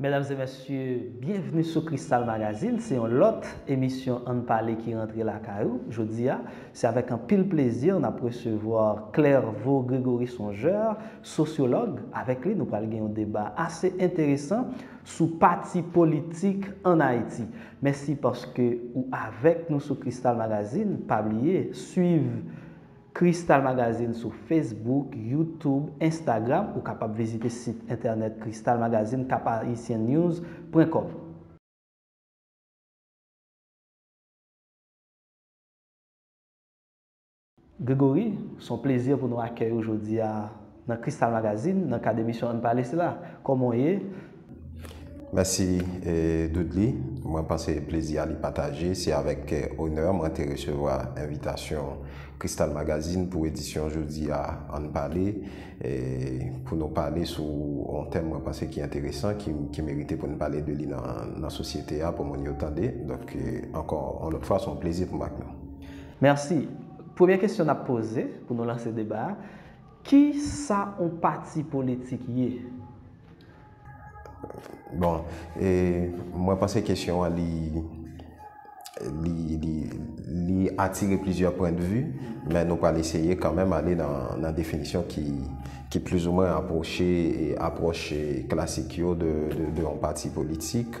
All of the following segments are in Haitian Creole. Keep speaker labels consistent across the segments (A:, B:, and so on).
A: Medam e mesye, byenvni sou Kristal Magazine, se yon lòt emisyon ann pale ki rantre lakay ou. Jodi a, se avèk anpil plezi n ap resevwa Clerveau Grégory Songeur, sosyològ. Avèk li nou pral gen yon deba ase enteresan sou pati politik ann Ayiti. Mèsi paske ou avèk nou sou Kristal Magazine, pa bliye swiv Crystal Magazine sou Facebook, YouTube, Instagram, ou kapab vizite sit entènèt Crystal Magazine Cap-Haïtien-News pwen kòm. Grégory, s on plezi pou nou akèy ou jodi a. Nan Crystal Magazine, nan kad emisyon Ann Pale sila. Kòman w ye?
B: Mèsi Dudley. Mwen panse plezi a li pataje. Se avèk onè mwen te resevwa envitasyon Crystal Magazine pou edisyon jodi a Ann Pale, pou nou pale sou yon tèm mwen panse ki enteresan, ki merite pou n pale de li nan sosyete a, pou moun yo tande. Donk, ankò yon lòt fwa, se yon plezi pou m ak nou. Mèsi.
A: Premye kesyon n ap poze, pou nou lanse deba a, Ki sa on pati politik ye?
B: Bon, mwen panse kesyon an li li atire plizyè pwen de vi, men nou pral eseye kanmenm ale nan definisyon ki plizoumwen apwoche apwòch klasik yo de on pati politik.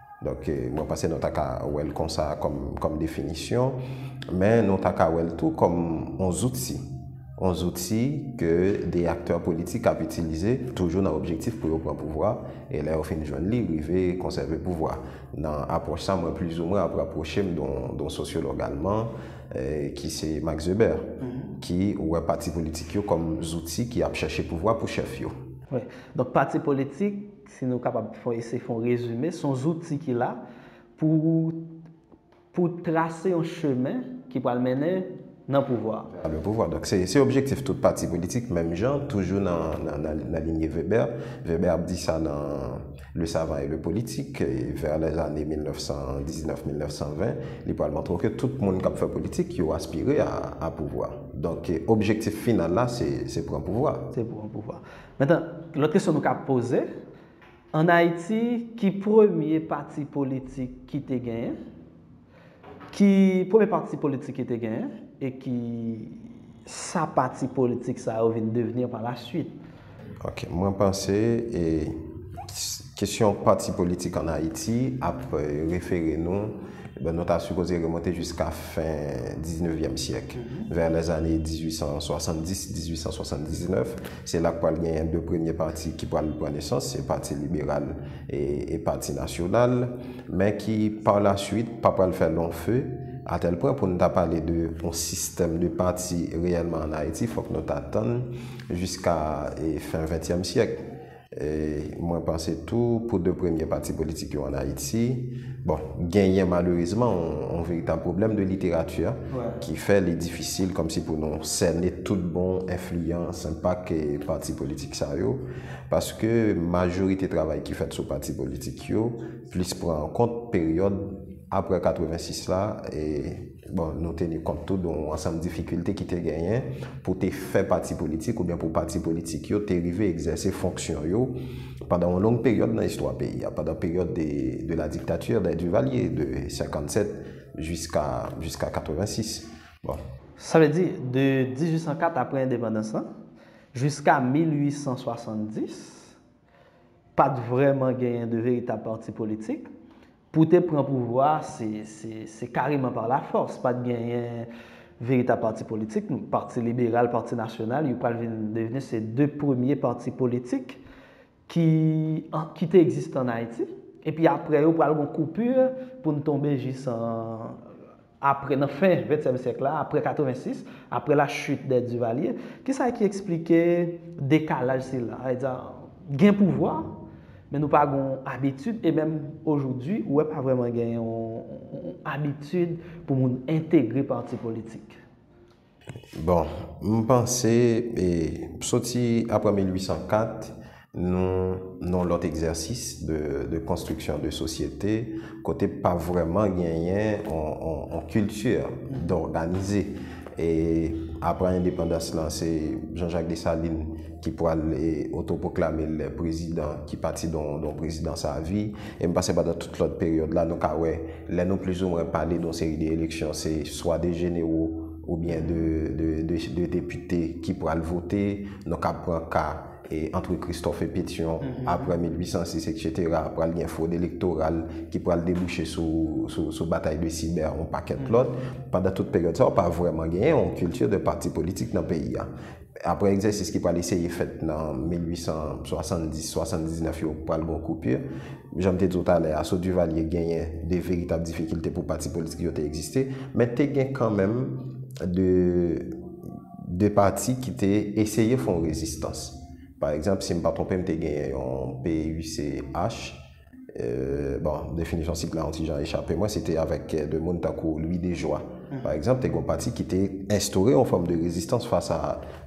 B: Donk mwen panse nou ta ka wè l konsa kòm definisyon, men nou ta ka wè l tou kòm yon zouti. Yon zouti ke de aktè politik ap itilize toujou nan objektif pou yo pran pouvwa e lè yo fin jwenn li rive konsève pouvwa. Nan apwòch sa mwen plizoumwen ap rapwoche m don sosyològ alman ki se Max Weber ki wè pati politik yo kòm zouti ki ap chèche pouvwa pou chèf yo. Donk pati
A: politik. Si nou kapab ese fè yon rezime, son zouti ki la pou pou trase yon chemen ki pral mennen nan pouvwa. Vè le pouvwa. Donk se
B: se objektif tout pati politik menm jan toujou nan nan linye Weber. Weber ap di sa nan Le savant et le politique vè lè zane 1919-1920 li pral montre w ke tout moun kap fè politik yo aspire a a pouvwa. Donk objektif final la se se pran pouvwa. Se pran pouvwa.
A: Metan, lòt kesyon nou ka poze, an Ayiti, ki premye pati politik ki te genyen? Ki premye pati politik ki te genyen? E ki sa pati politik sa yo vin devni an pa la swit? Ok, mwen
B: panse e. Kesyon pati politik an Ayiti ap refere nou, bon nou ta sipoze remonte jiska fen diznevyèm syèk, vè lèzane 1870, 1879, se la k pral genyen 2 premye pati ki pral pran nesans, se Pati Liberal e Pati Nasyonal, men ki pa la suit pa pral fè long feu, atèl pwen pou nou ta pale de yon sistèm de pati reyèlman an Ayiti fòk nou ta tann jiska fen ventyèm syèk. Mwen panse tou pou 2 premye pati politik yo an Ayiti, bon, genyen malerezman yon veritab pwoblèm de literati ki fè li difisil kòmsi pou nou sène tout bon enfliyans, enpak pati politik sa yo. Paske majorite travay ki fèt sou pati politik yo plis pran an kont peryòd apre 86 la. Bon, nou teni kont tou de yon ansanm difikilte ki te genyen pou te fè pati politik oubyen pou pati politik yo te rive egzèse fonksyon yo pandan yon long peryòd nan istwa peyi a, pandan peryòd de de la dictature des Duvaliers, de 57 jiska jiska 86. Bon. Sa vle di,
A: de 1804, apre endepandans lan, jiska 1870, pa t vrèman genyen de veritab pati politik, Pou te pran pouvwa a, se kareman pa la fòs. Pa t genyen veritab pati politik. Pati Liberal, Pati Nasyonal, yo pral vin devni se de premye pati politik ki te egziste ann Ayiti. Epi apre yo pral gon koupur pou n tonbe jis an. Apre, nan fen ventyèm syèk la, apre 86, apre la chute dè Duvalier, ki sa ki eksplike dekalaj sila? Sa vle di, gen pouvwa, men nou pa gen yon abitid, e menm ojoudwi, ou wè pa vrèman gen yon abitid pou moun entegre pati politik.
B: Bon, m panse, soti aprè 1804, nou nan lòt egzèsis de konstriksyon de sosyete, kote pa vrèman genyen yon kilti dòganize. E aprè endepandans lan, se Jean Jacques Dessalines ki pral otopoklame l prezidan, ki pati don prezidans avi. E m panse pandan tout lòt peryòd la, nou ka wè. Lè nou plizoumwen pale don seri de eleksyon se swa de jenero oubyen de depite ki pral vote, nou kab pran ka antre Christophe et Petion apre 1806 etc. Pral gen fwod elektoral ki pral debouche sou batay de Cyber yon pakèt lòt. Pandan tout peryòd sa yo pa vrèman genyen yon kilti de pati politik nan peyi a. Aprè egzèsis ki pral eseye fèt nan 1870, 79 yo pral gen yon koupir. Jan m te di w talè a, sou Duvalier genyen de veritab difikilte pou pati politik yo te egziste. Men te gen kanmenm de de pati ki te eseye fè yon rezistans. Pa egzanp, si m pa twonpe m te genyen yon PUCH. Bon, definisyon sik la on ti jan echape mwen, se te avèk de moun tankou Louis Dejoie, pa egzanp, te gen yon pati ki te enstore yon fòm de rezistans fas a,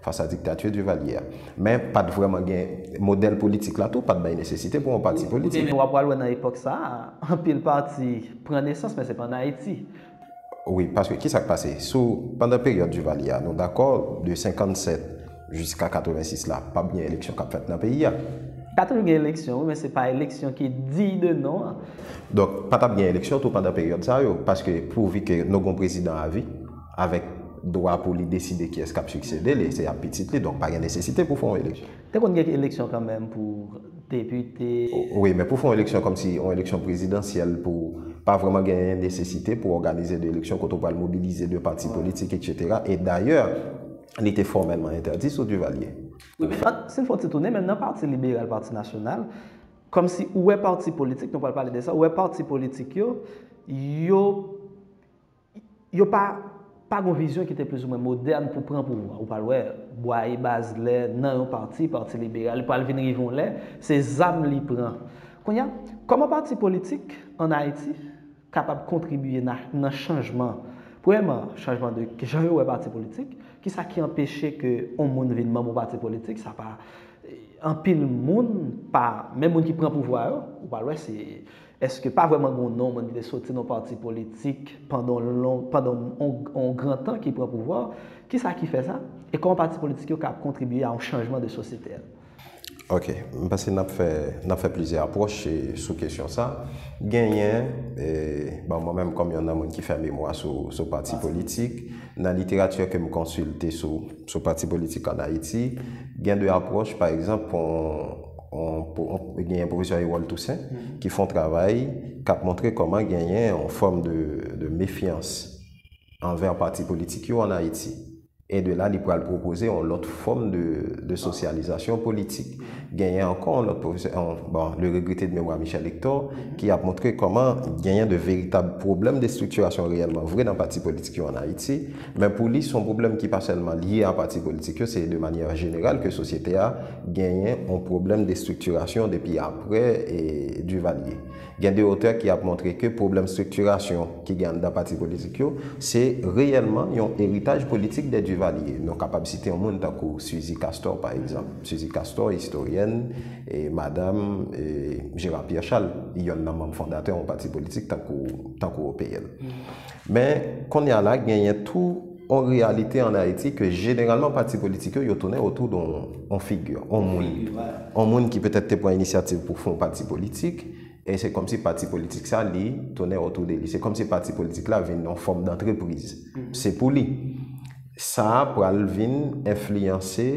B: fas a diktati Duvalier a. Men, pa t vrèman gen, modèl politik la tou pa t bay nesesite pou yon pati politik. Ou pral wè nan epòk
A: sa a, anpil pati pran nesans, men se pa an Ayiti. Wi, paske
B: ki sa k pase? Sou pandan peryòd Duvalier a, nou dakò de 57 jiska 86 la, p ap gen eleksyon k ap fèt nan peyi a. Pa toujou gen
A: eleksyon wi, men se pa eleksyon ki diy de non an. Donk, pa t
B: ap gen eleksyon tou pandan peryòd sa yo, paske pouvi ke nou gon prezidan avi, avèk dwa pou li deside kiyès k ap siksede li, se ap pitit li, donk pa gen nesesite pou fè yon eleksyon. Te konn gen eleksyon
A: kanmenm pou depite. Wi, men pou fè yon
B: eleksyon kòmsi yon eleksyon prezidansyèl pou pa vrèman genyen nesesite pou òganize 2 eleksyon kote ou pral mobilize 2 pati politik eksetera e dayè li te fòmèlman entèdi sou Duvalier. Wi, men an, si
A: n fè yon ti tounen menm nan pati liberal, pati nasyonal, kòmsi ou wè pati politik, nou pral pale de sa, ou wè pati politik yo, yo Yo pa pa gen yon vizyon ki te plizoumwen modèn pou pran pouvwa. Ou pral wè, Bwaye, Bazlè, nan yon pati, Pati Liberal, li pral vin rive yon lè, se zam li pran. Kounye a, kòman pati politik ann Ayiti kapab kontribye na, nan chanjman? Premyèman, chanjman de ki jan yo wè pati politik. Ki sa ki anpeche ke yon moun vin manm yon pati politik? Sa pa, anpil moun pa, menm moun ki pran pouvwa yo, ou pral wè se. Eske pa vreman gon non moun ki te soti non parti politik pandan on gran tan ki pran pouvwa? Kisa ki fè sa? E koman parti politik yo ka kontribye a on chanjman de sosyete a? Ok,
B: m panse nap fè nap fè plizyè apwoch sou kesyon sa. Genyen, bon mwen menm kom yon nan moun ki fè memwa sou parti politik, nan literati ke m konsilte sou parti politik an Ayiti, gen de apwoch pa egzanp pou genyen Pwofesè Erol Toussaint ki fè yon travay k ap montre kòman genyen yon fòm de mefyans anvè pati politik yo ann Ayiti. E de la li pral pwopoze yon lòt fòm de sosyalizasyon politik. Genyen ankò yon lòt pwofesè, bon, le regrete de memwa Michel Hector, ki ap montre kòman genyen de veritab pwoblèm de estriktirasyon reyèlman vre nan pati politik yo ann Ayiti. Men pou li, son pwoblèm ki pa sèlman lye a pati politik yo, se de manyè jeneral ke sosyete a genyen on pwoblèm de striktirasyon depi apre Duvalier. Gen de otè ki ap montre ke pwoblèm striktirasyon ki gen anndan pati politik yo, se reyèlman yon eritaj politik de Duvalier. Nou kapab site on moun tankou Suzy Castor pa egzanp. Suzy Castor, istoryèn, madam Gérard Pierre Charles, yonn nan manm fondatè on pati politik tankou OPL. Men, konnya la genyen tou on reyalite an Ayiti ke jeneralman pati politik yo, yo tounen otou don on figi, on moun. On moun ki petèt te pran inisyativ pou fon pati politik, e se kòmsi pati politik sa li tounen otou de li. Se kòmsi pati politik la vin on fòm dantrepriz. Se pou li. Sa a pral vin enfliyanse.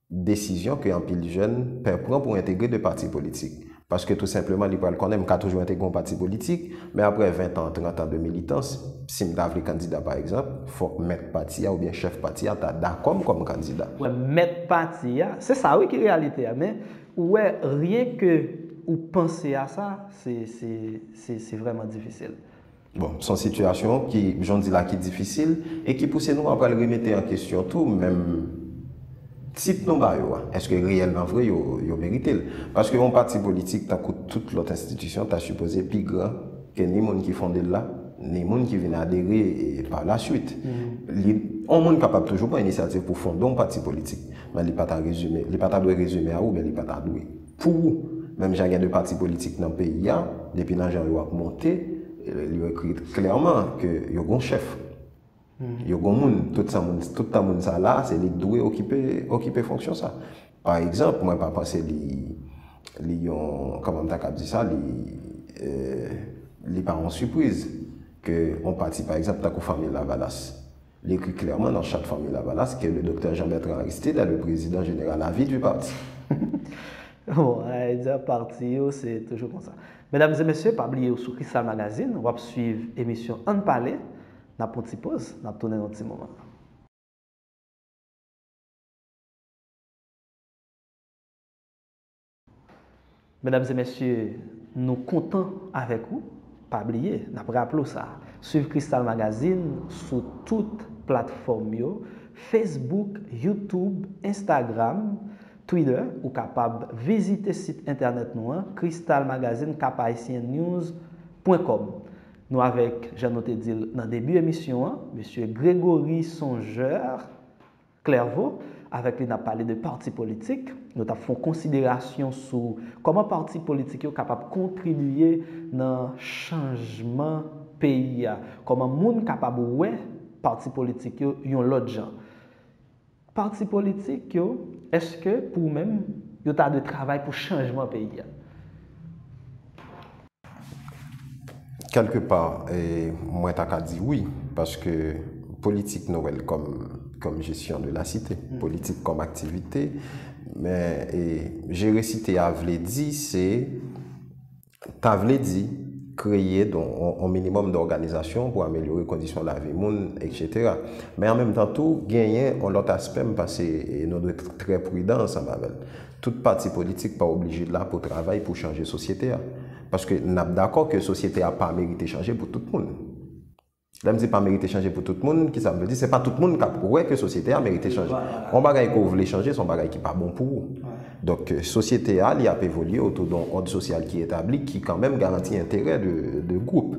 B: desizyon ke anpil jèn pè pran pou entegre de pati politik. Paske tou senpleman li pral konnen m ka toujou entegre yon pati politik, men aprè 20 tan, 30 tan de militans, si m ta vle kandida pa egzanp, fòk mèt pati a oubyen chèf pati a ta dakò m kòm kandida. Wè mèt pati
A: a, se sa wi ki reyalite a, men ou wè ryen ke ou panse a sa, se, se, se, se vrèman difisil. Bon, son
B: sitiyasyon ki, jan w di la, ki difisil e ki pouse nou a pral remete an kesyon tou menm tit nou ba yo a. Eske reyèlman vre yo, yo merite l? Paske yon pati politik tankou tout lòt enstitisyon ta sipoze pi gran ke ni moun ki fonde l la, ni moun ki vin adere par la suite. Li, yon moun kapab toujou pran inisyativ pou fonde yon pati politik, men li pa ta rezime, li pa ta dwe rezime a ou, men li pa ta dwe. Pou ou, menm jan gen 2 pati politik nan peyi a, depi nan jan yo ap monte, yo ekri klèman ke yo gon chèf. Yo gon moun. Tout sa moun, tout tan moun sa la, se li ki dwe okipe, okipe fonksyon sa. Pa egzanp, mwen pa panse li, li yon, kòman m ta kab di sa, li, li pa yon sipriz ke yon pati, pa egzanp, tankou Fanmi Lavalas. Li ekri klèman nan Chat Fanmi Lavalas ke le Doktè Jean Bertrand Aristide est le President General à vie du parti.
A: Bon, ayidya parti yo se toujou konsa. Medam e mesye, pa bliye ou sou Kristal Magazine, w ap swiv emisyon Ann pale, n ap pran ti poz, n ap tounen nan ti moman. Medam e mesye nou kontan avèk ou pa bliye nap raple w sa swiv Cristal Magazine sou tout platfòm yo Facebook YouTube Instagram Twitter ou kapab vizite sit entènèt nou an Cristalmagazine caphaitiennews pwen kòm nou avèk jan nou te di l nan debi emisyon an mesye Gregory Songeur. Clerveau, avèk li n ap pale de pati politik. Nou t ap fè yon konsiderasyon sou kòman pati politik yo kapab kontribiye nan chanjman peyi a, kòman moun kapab wè pati politik yo yon lòt jan. Pati politik yo, èske pou ou menm yo ta dwe travay pou chanjman peyi a?
B: Kèlke pa, mwen ta ka di wi, paske politik nou wè l kòm jesyon de la site, politik kòm aktivite, men jere site a vle di se, ta vle di kreye yon minimòm de òganizasyon pou amelyore kondisyon lavi moun, eksetera. Men an menm tan tou, genyen yon lòt aspè m panse nou dwe trè pridan ansanm avè l. Tout pati politik pa oblije la pou travay pou chanje sosyete a. Paske n ap dakò ke sosyete a pa merite chanje pou tout moun. Lè m di pa merite chanje pou tout moun, ki sa m vle di? Se pa tout moun k ap wè ke sosyete a merite chanje. Yon bagay ke w vle chanje, se yon bagay ki pa bon pou ou. Donk, sosyete a, li ap evolye otou de yon òd sosyal ki etabli, ki kanmenm garanti enterè de gwoup.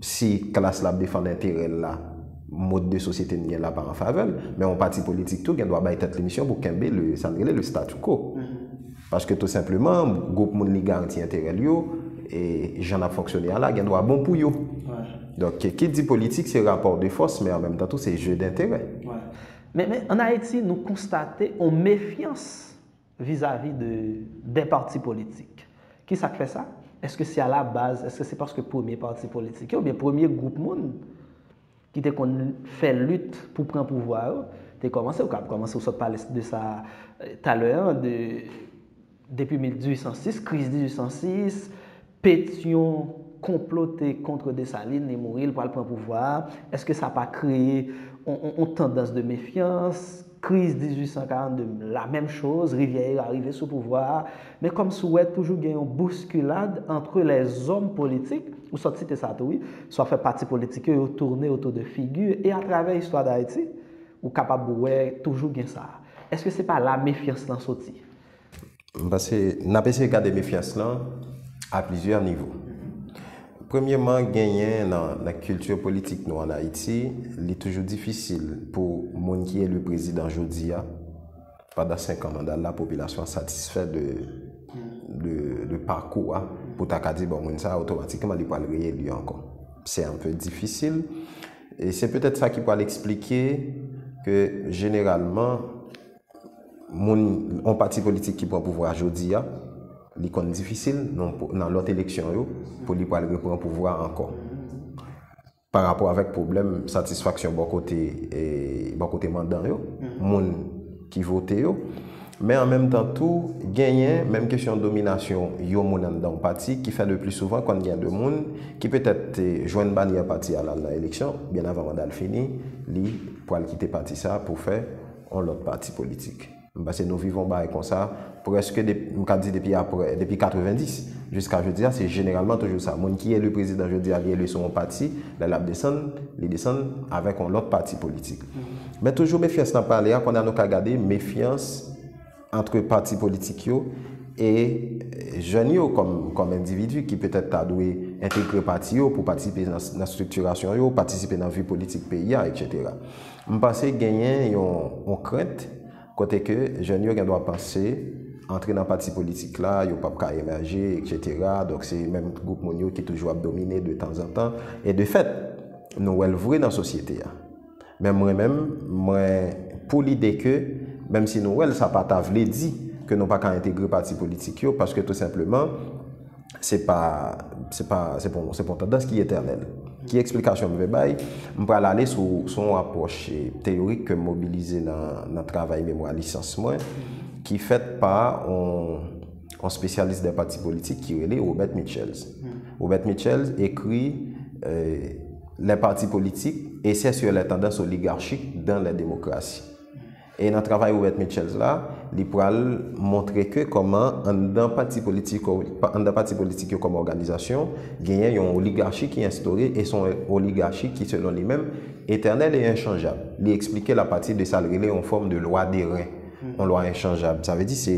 B: Si klas la ap defann enterè l la, mode de société n gen la pa an favè l. Men yon pati politik tou gen dwa bay tèt li misyon pou kenbe le, sa n rele le statu quo. Paske tou senpleman, gwoup moun li garanti enterè l yo, e jan n ap fonksyone a la gen dwa bon pou yo. Donk, ki di politik se rapò de fòs, men an menm tan tou se jeu d'intérêt. Men,
A: an Ayiti, nou konstate yon mefyans. vizavi de de pati politik. Ki sa k fè sa? Èske se alabaz, èske se paske premye pati politik yo oubyen premye gwoup moun ki te konn fè lit pou pran pouvwa yo te kòmanse? Ou ka ap kòmanse, ou sot pale de sa talè an, de depi 1806, kriz 1806, Petion konplote contre Dessalines li mouri li pral pran pouvwa a, eske sa pa kreye on tandans de mefyans, kriz 1842 la menm choz, Rivièira rive sou pouvwa a, men kòm si w wè toujou gen yon bouskilad antre lèzòm politik, ou sot site sa tou wi, swa fè pati politik yo yo tourne autour de figi e atravè istwa Dayiti ou kapab wè toujou gen sa, eske se pa la mefyans lan soti? M panse
B: n ap eseye gade mefyans lan a plizyè nivo. Premyeman, genyen nan kilti politik nou an Ayiti, li toujou difisil pou moun ki eli prezidan jodi a, pandan senkan manda l la, popilasyon an satisfè de pakou a pou ta ka di bon moun sa a otomatikman li pral reyeli ankò. Se anpe difisil. E se petèt sa ki pral esplike ke jeneralman Moun, yon pati politik ki pran pouvwa a jodi a, li konn difisil nan lòt eleksyon yo pou li pral repran pouvwa a ankò. Pa rapò avèk pwoblèm satisfaksyon bò kote e bò kote mandan yo, moun ki vote yo. Men an menm tan tou, genyen menm kesyon dominasyon yon moun anndan yon pati ki fè le pli souvan konn gen de moun ki petèt te jwenn banyè pati a lal nan eleksyon, byen avan manda l fini, li pral kite pati sa a pou fè. yon lòt pati politik. M panse nou viv yon bagay konsa prèske depi, m ka di depi aprè, depi 90 jiska jodi a, se jeneralman toujou sa. Moun ki eli prezidan jodi a, li eli sou yon pati, lè l ap desann, li desann avèk yon lòt pati politik. Men toujou mefyans n ap pale a, konn a nou ka gade mefyans, antre pati politik yo e jèn yo kòm endividi ki petèt ta dwe entegre pati yo pou patisipe nan estriktirasyon yo, patisipe nan vi politik peyi a, etc. M panse genyen yon krent kote ke jèn yo gendwa panse antre nan pati politik la yo pap ka emèje, etc. Donk se menm gwoup moun yo ki toujou ap domine de tanzantan e de fèt nou wè l vre nan sosyete a. Men mwen menm, mwen pou lide ke, menm si nou wè l sa pa ta vle di ke nou pa ka entegre pati politik yo, paske tou senpleman, se pa, se pa, se pa, se pa yon tandans ki etènèl. Ki eksplikasyon m vle bay? M pral ale sou, sou yon apwòch teyorik ke m mobilize nan, nan travay memwa lisans mwen, ki fèt pa yon. yon spesyalis dè pati politik ki rele Robert Mitchells. Robert Mitchells ekri lè pati politik esè sou lè tandans oligarchik dan lè demokrasi. E nan travay Robert Mitchells la, li pral montre ke kòman anndan pati politik yo kòm òganizasyon, genyen yon oligarchi ki enstore e son oligarchi ki selon li menm, etènèl e enchanjab. Li esplike l apati de sa l rele yon fòm de lwa de ren. yon lwa enchanjab. Sa vle di se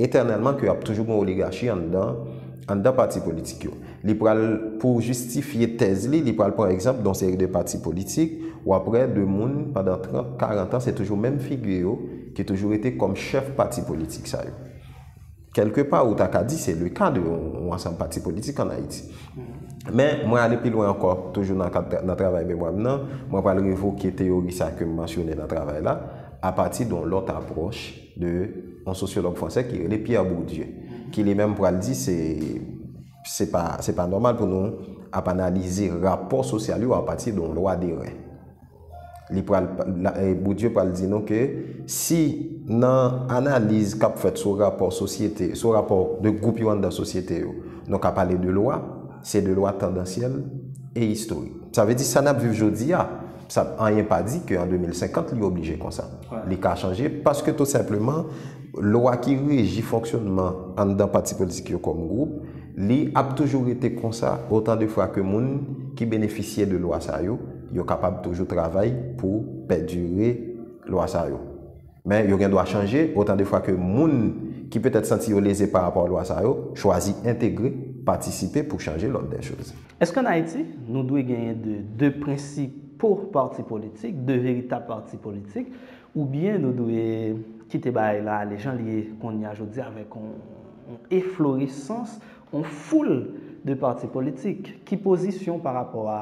B: etènèlman ke ap toujou gen oligachi anndan, anndan pati politik yo. Li pral, pou jistifye tèz li, li pral pran egzanp de yon seri de pati politik, w ap wè de moun pandan 30, 40 an, se toujou menm figi yo ki toujou rete kòm chèf pati politik sa yo. Kèlke pa ou ta ka di se le ka de yon ansanm pati politik an Ayiti. Men, mwen ale pi lwen ankò, toujou nan kad nan travay memwa m nan, mwen pral revoke teyori sa ke m mansyone nan travay la, apati de yon lòt apwòch de yon sosyològ fransè ki rele Pierre Bourdieu, ki li menm pral di se se pa se pa nòmal pou nou ap analize rapò sosyal yo apati de yon lwa deren. Li pral, Bourdieu pral di nou ke si nan analiz kap fèt sou rapò sosyete, sou rapò 2 gwoup yo anndan sosyete yo, nou ka pale de lwa, se de lwa tandansyèl e istorik. Sa vle di sa nap viv jodi a, sa anyen pa di ke an 2050 li oblije konsa. Li ka chanje paske tou senpleman lwa ki reji fonksyonman anndan pati politik yo kòm gwoup, li ap toujou rete konsa otan de fwa ke moun ki benefisye de lwa sa yo, Yo kapab toujou travay pou pèdire lwa sa yo. Men yo gen dwa chanje otan de fwa ke moun ki petèt santi yo leze pa rapò a lwa sa yo chwazi entegre, patisipe pou chanje lòd dè choz. Èske an Ayiti,
A: nou dwe genyen de de prensipo pati politik, de veritab pati politik, oubyen nou dwe kite bagay la ale jan li ye kounye a jodi a avèk on on efloresans, on foul de pati politik? Ki pozisyon pa rapò a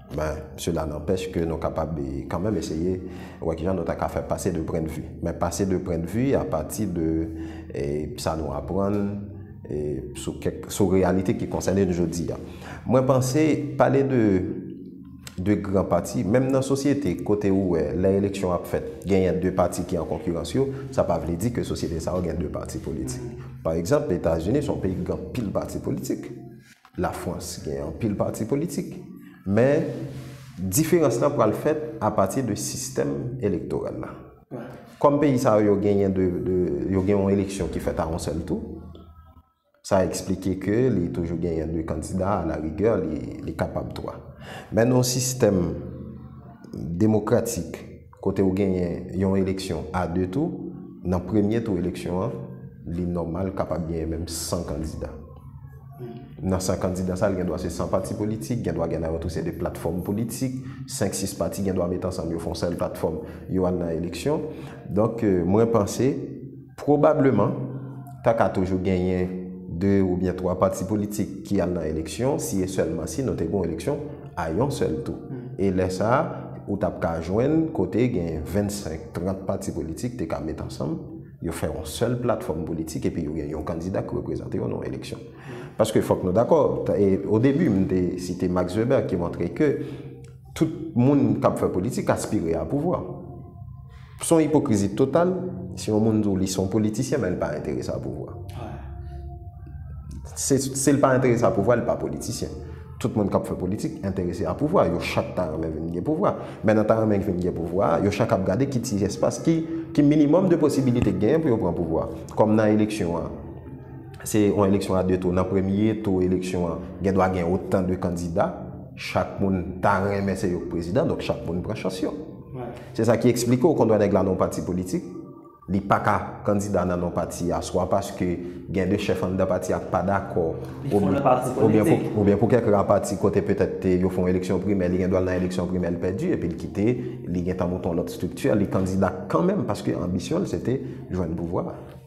B: Men sela nanpèch ke nou kapab kanmenm eseye wè kijan nou ta ka fè pase de pren de vi. Men pase de pren de vi apati de sa nou aprann sou kèk sou reyalite ki konsène n jodi a. Mwen panse pale de de gran pati, menm nan sosyete kote ou wè lè eleksyon ap fèt genyen de pati ki an konkirans yo, sa pa vle di ke sosyete sa yo gen de pati politik. Pa egzanp, Etazini son peyi ki gen anpil pati politik. Lafrans gen anpil pati politik, men diferans lan pral fèt apati de sistèm elektoral la. Kòm peyi sa yo genyen de, yo gen yon eleksyon ki fèt a yon sèl tou, sa eksplike ke li toujou genyen de kandida, a la rigè li kapab twa. Men nan yon sistèm demokratik, Kote ou genyen yon eleksyon a 2 tou, nan premye tou eleksyon an, li nòmal kapab genyen menm 100 kandida. Nan 100 kandida sa, li gen dwa se 100 pati politik, gen dwa gen nan yo tou se 2 platfòm politik, 5, 6 pati gen dwa met ansanm yo fon sèl platfòm, yo al nan eleksyon. Donk, mwen panse. Pwobableman, ta ka toujou genyen 2 oubyen 3 pati politik ki al nan eleksyon si e sèlman si nou te gen yon eleksyon a yon sèl tou. E lè sa a, ou t ap ka jwenn kote gen 25, 30 pati politik te ka met ansanm, yo fè yon sèl platfòm politik epi yo gen yon kandida ki reprezante yo nan yon eleksyon. Paske fòk nou dakò, odebi m te site Max Weber ki montre ke, Tout moun k ap fè politik aspire a pouvwa. S on ipokrizi total si yon moun di w li s on politisyen men l pa enterese a pouvwa. Si l pa enterese a pouvwa, li pa politisyen. Tout moun k ap fè politik enterese a pouvwa. Yo chak ta renmen vin gen pouvwa. Men nan ta renmen vin gen pouvwa a, yo chak ap gade ki ti espas, ki minimòm de posibilite k genyen pou yo pran pouvwa a. Kòm nan eleksyon an. se yon eleksyon a 2 tou. Nan premye tou eleksyon an, gen dwa gen otan de kandida. Chak moun ta renmen se yo k prezidan, donk chak moun pran chans yo. Se sa ki eksplike ou kondwa nèg la nan yon pati politik, li pa ka kandida nan non pati a, swa paske gen 2 chèf anndan pati a k pa dakò, oubyen pou kèk ra pati kote petèt te yo fè yon eleksyon primè, li gen dwa al nan eleksyon primè l pèdi, epi l kite, li gen tan mouton lòt estrikti a, li kandida kanmenm paske anbisyon l se te jwenn pouvwa a.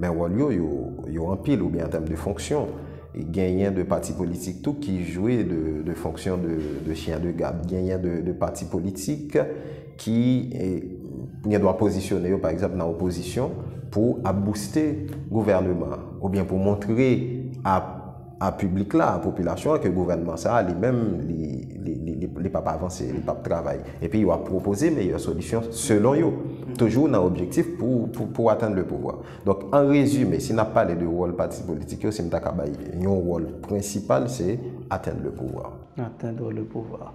B: Men wòl yo, yo anpil oubyen an tèm de fonksyon. Genyen de pati politik tou ki jwe de fonksyon de chyen de gad. Genyen de pati politik ki gen dwa pozisyone yo pa egzanp nan opozisyon pou ap bouste gouvèneman oubyen pou montre ap a piblik la, a popilasyon an ke gouvènman sa a li menm li pap avanse, li pap travay. Epi yo ap pwopoze meyè solisyon selon yo. Toujou nan objektif pou atenn le pouvwa. Donk an rezime, si n ap pale de wòl pati politik yo, si m ta ka bay yon wòl prensipal se atenn le pouvwa. Atenn le
A: pouvwa.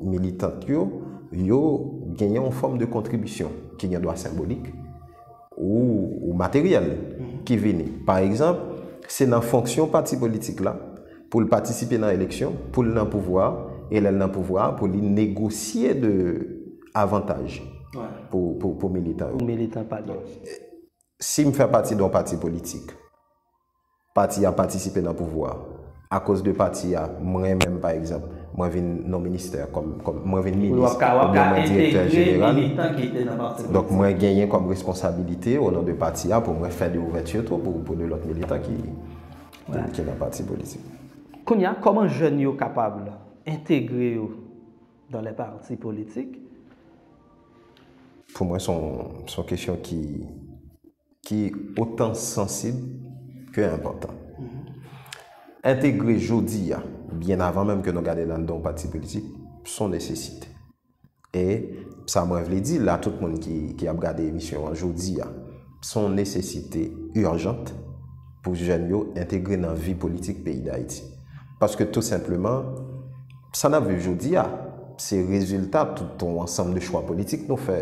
B: militant yo, yo gen yon fòm de kontribisyon ki gen dwa senbolik ou materyèl ki vini. Pa egzanp, se nan fonksyon pati politik la pou l patisipe nan eleksyon, pou l nan pouvwa a, e lè l nan pouvwa a, pou li negosye de avantaj pou militan yo. Pou militan pa
A: gen. Si
B: m fè pati don pati politik, pati a patisipe nan pouvwa, akoz de pati a m renmen m pa egzanp, mwen vin non ministè kòm, kòm, mwen vin minis oubyen mwen direktè jeneral, donk mwen genyen kòm responsabilite o non de pati a pou mwen fè de ouvèti tou pou, pou de lòt militan ki, ki nan pati politik. Kounya
A: kòman jèn yo kapab entegre yo? dans les partis politiques.
B: Pou mwen son son kesyon ki ki otan sansib ke enpòtan. Entegre jodi a, byen avan menm ke nou gade nan don pati politik, son nesesite. E sa mwen vle di la tout moun ki ki ap gade emisyon an jodi a, S on nesesite urjant pou jèn yo entegre nan vi politik peyi Dayiti. Paske tou senpleman, sa n ap viv jodi a, se rezilta tout on ansanm de chwa politik nou fè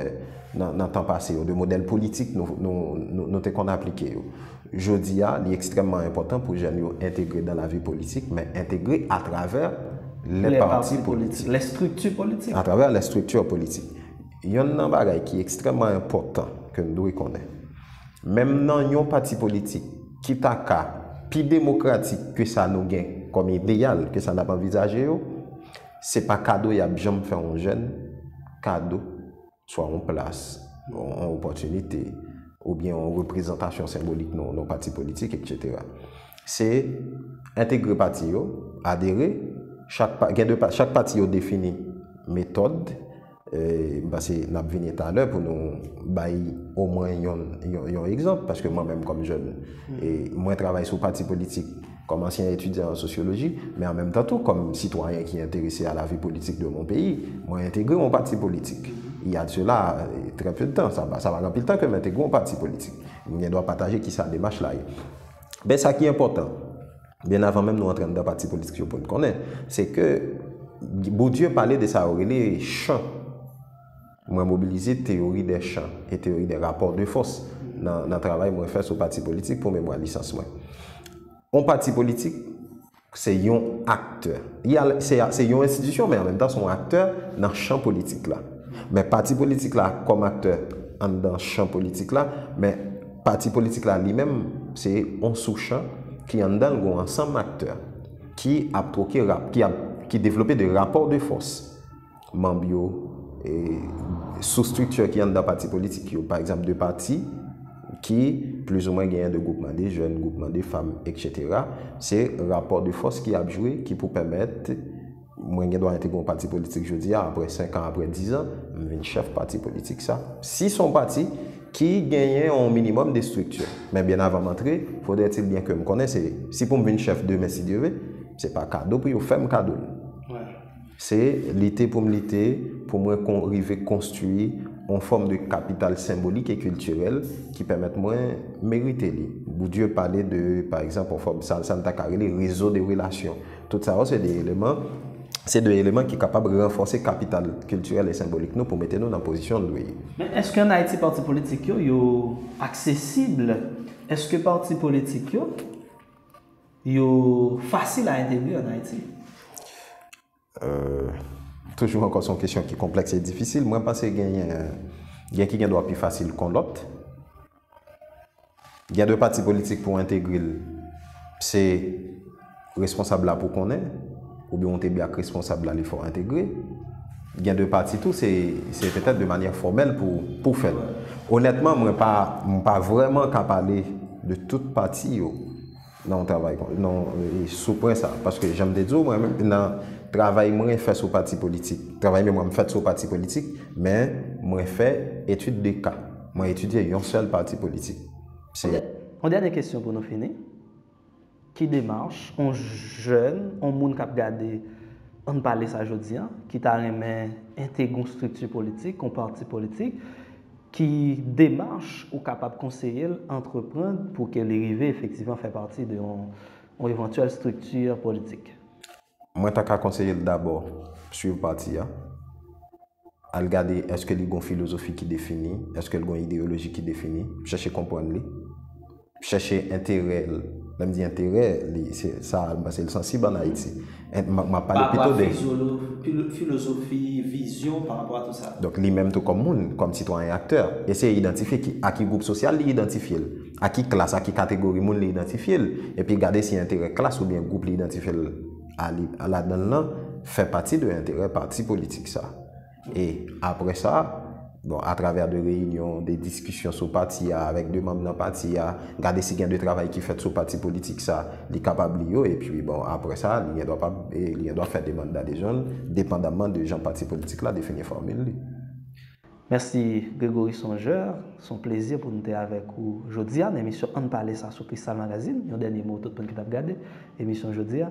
B: nan tan pase yo, de modèl politik nou te konn aplike yo. Jodi a, li ekstrèmman enpòtan pou jèn yo entegre nan lavi politik, men entegre atravè lè pati politik. Lè strikti politik.
A: Atravè lè strikti
B: politik. Yonn nan bagay ki ekstrèmman enpòtan ke n dwe konnen, menm nan yon pati politik ki ta ka pi demokratik ke sa nou gen kòm ideyal, ke sa n ap anvizaje yo, se pa kado y ap janm fè yon jèn, kado, swa yon plas, yon opòtinite, oubyen yon reprezantasyon senbolik nan yon pati politik, eksetera. Se entegre pati yo, adere, chak pa, gen de pa, chak pati yo defini metòd, M panse n ap vini talè pou nou bay omwen yon egzanp, paske mwen menm kòm jèn, mwen travay sou pati politik kòm ansyen etidyan an sosyoloji, men an menm tan tou kòm sitwayen ki enterese a la vi politik de mon peyi, mwen entegre yon pati politik. Il y a de cela très peu de temps, sa pa gen anpil tan ke m entegre yon pati politik. M gen dwa pataje kisa demach la ye. Men sa ki enpòtan. byen avan menm nou antre anndan pati politik yo pou n konnen, se ke Bourdieu pale de sa yo rele chan. Mwen mobilize teyori dè chan e teyori dè rapò de fòs nan travay mwen fè sou pati politik pou memwa lisans mwen. On pati politik se yon aktè. Se yon enstitisyon men an menm tan se yon aktè nan chan politik la. Men pati politik la kòm aktè anndan chan politik la, men. Pati politik la li menm se yon souchan ki anndan l gon ansanm aktè ki ap twoke rap, ki ap, ki devlope de rapò de fòs. Manb yo, e, sou striktè ki anndan pati politik yo. Pa egzanp de pati ki plizoumwen genyen de gwoupman de jèn, gwoupman de fanm, eksetera, se rapò de fòs ki ap jwe ki pou pèmèt, Mwen gen dwa entegre yon pati politik jodi a, apre 5 an, apre 10 an, m vin chèf pati politik sa. Si s on pati ki genyen yon minimòm de estrikti. Men byen avan m antre, fodretil byen ke m konnen se, si pou m vin chèf demen si Dye ve, se pa kado pou yo fè m kado l. Se lite pou m lite pou mwen rive konstwi yon fòm de kapital senbolik e kiltirèl ki pèmèt mwen merite li. Boudye pale de, pa egzanp, yon fòm, sa n ta ka rele rezo de relasyon. Tout sa yo se de eleman se de eleman ki kapab ranfòse kapital kiltirèl e senbolik nou pou mete nou nan pozisyon l dwe ye. Men èske an Ayiti
A: pati politik yo, yo aksesib? Èske pati politik yo, yo fasil a entegre an Ayiti?
B: Toujou ankò se yon kesyon ki konplèks e difisil. Mwen panse genyen, gen ki gen dwa pi fasil kon lòt. Gen de pati politik pou entegre l, se responsab la pou konnen, oubyen ou te bè ak responsab la li fè w entegre. Gen de pati tou se se petèt de manyè fòmèl pou pou fè l. Onètman mwen pa mwen pa vrèman ka pale de tout pati yo. nan yon travay kon nan sou pwen sa paske janm te di w mwen menm nan travay mwen fè sou pati politik travay memwa m fèt sou pati politik men mwen fè etid de ka mwen etidye yon sèl pati politik se Yon
A: dènye kesyon pou nou fini ki demach yon jèn yon moun k ap gade ann pale sa jodi an ki ta renmen entegre yon estrikti politik yon pati politik Ki demach ou kapab konseye l antreprann pou ke li rive efektivman fè pati de yon evantyèl strikti politik? Mwen ta
B: ka konseye l dabò swiv pati a, al gade èske li gen yon filozofi ki defini, èske l gen yon ideyoloji ki defini, chèche konprann li. chèche enterè l, lè m di enterè li se sa m panse l sansib an Ayiti, m ap pale pito de. Parapwa
A: filozofi, vizyon parapwa a tout sa. Donk li menm tou kòm moun,
B: kòm sitwayen aktè, eseye idantifye ki a ki gwoup sosyal li idantifye l, a ki klas, a ki kategori moun li idantifye l, epi gade si enterè klas oubyen gwoup li idantifye l a li ladan l lan fè pati de enterè pati politik sa. E apre sa, bon, a travè de reyinyon, de diskisyon sou pati a, avèk de manm nan pati a, gade si gen de travay ki fèt sou pati politik sa, li kapab li yo, epi bon, apre sa, li gen dwa pa, li gen dwa fè demann dadejòn, depandaman de jan pati politik la defini fòmil li. Mèsi
A: Grégory Songeur, s on plezi pou n te avèk ou jodi a nan emisyon Ann Pale sa sou Kristal Magazine, yon dènye mo tout moun ki t ap gade emisyon jodi a.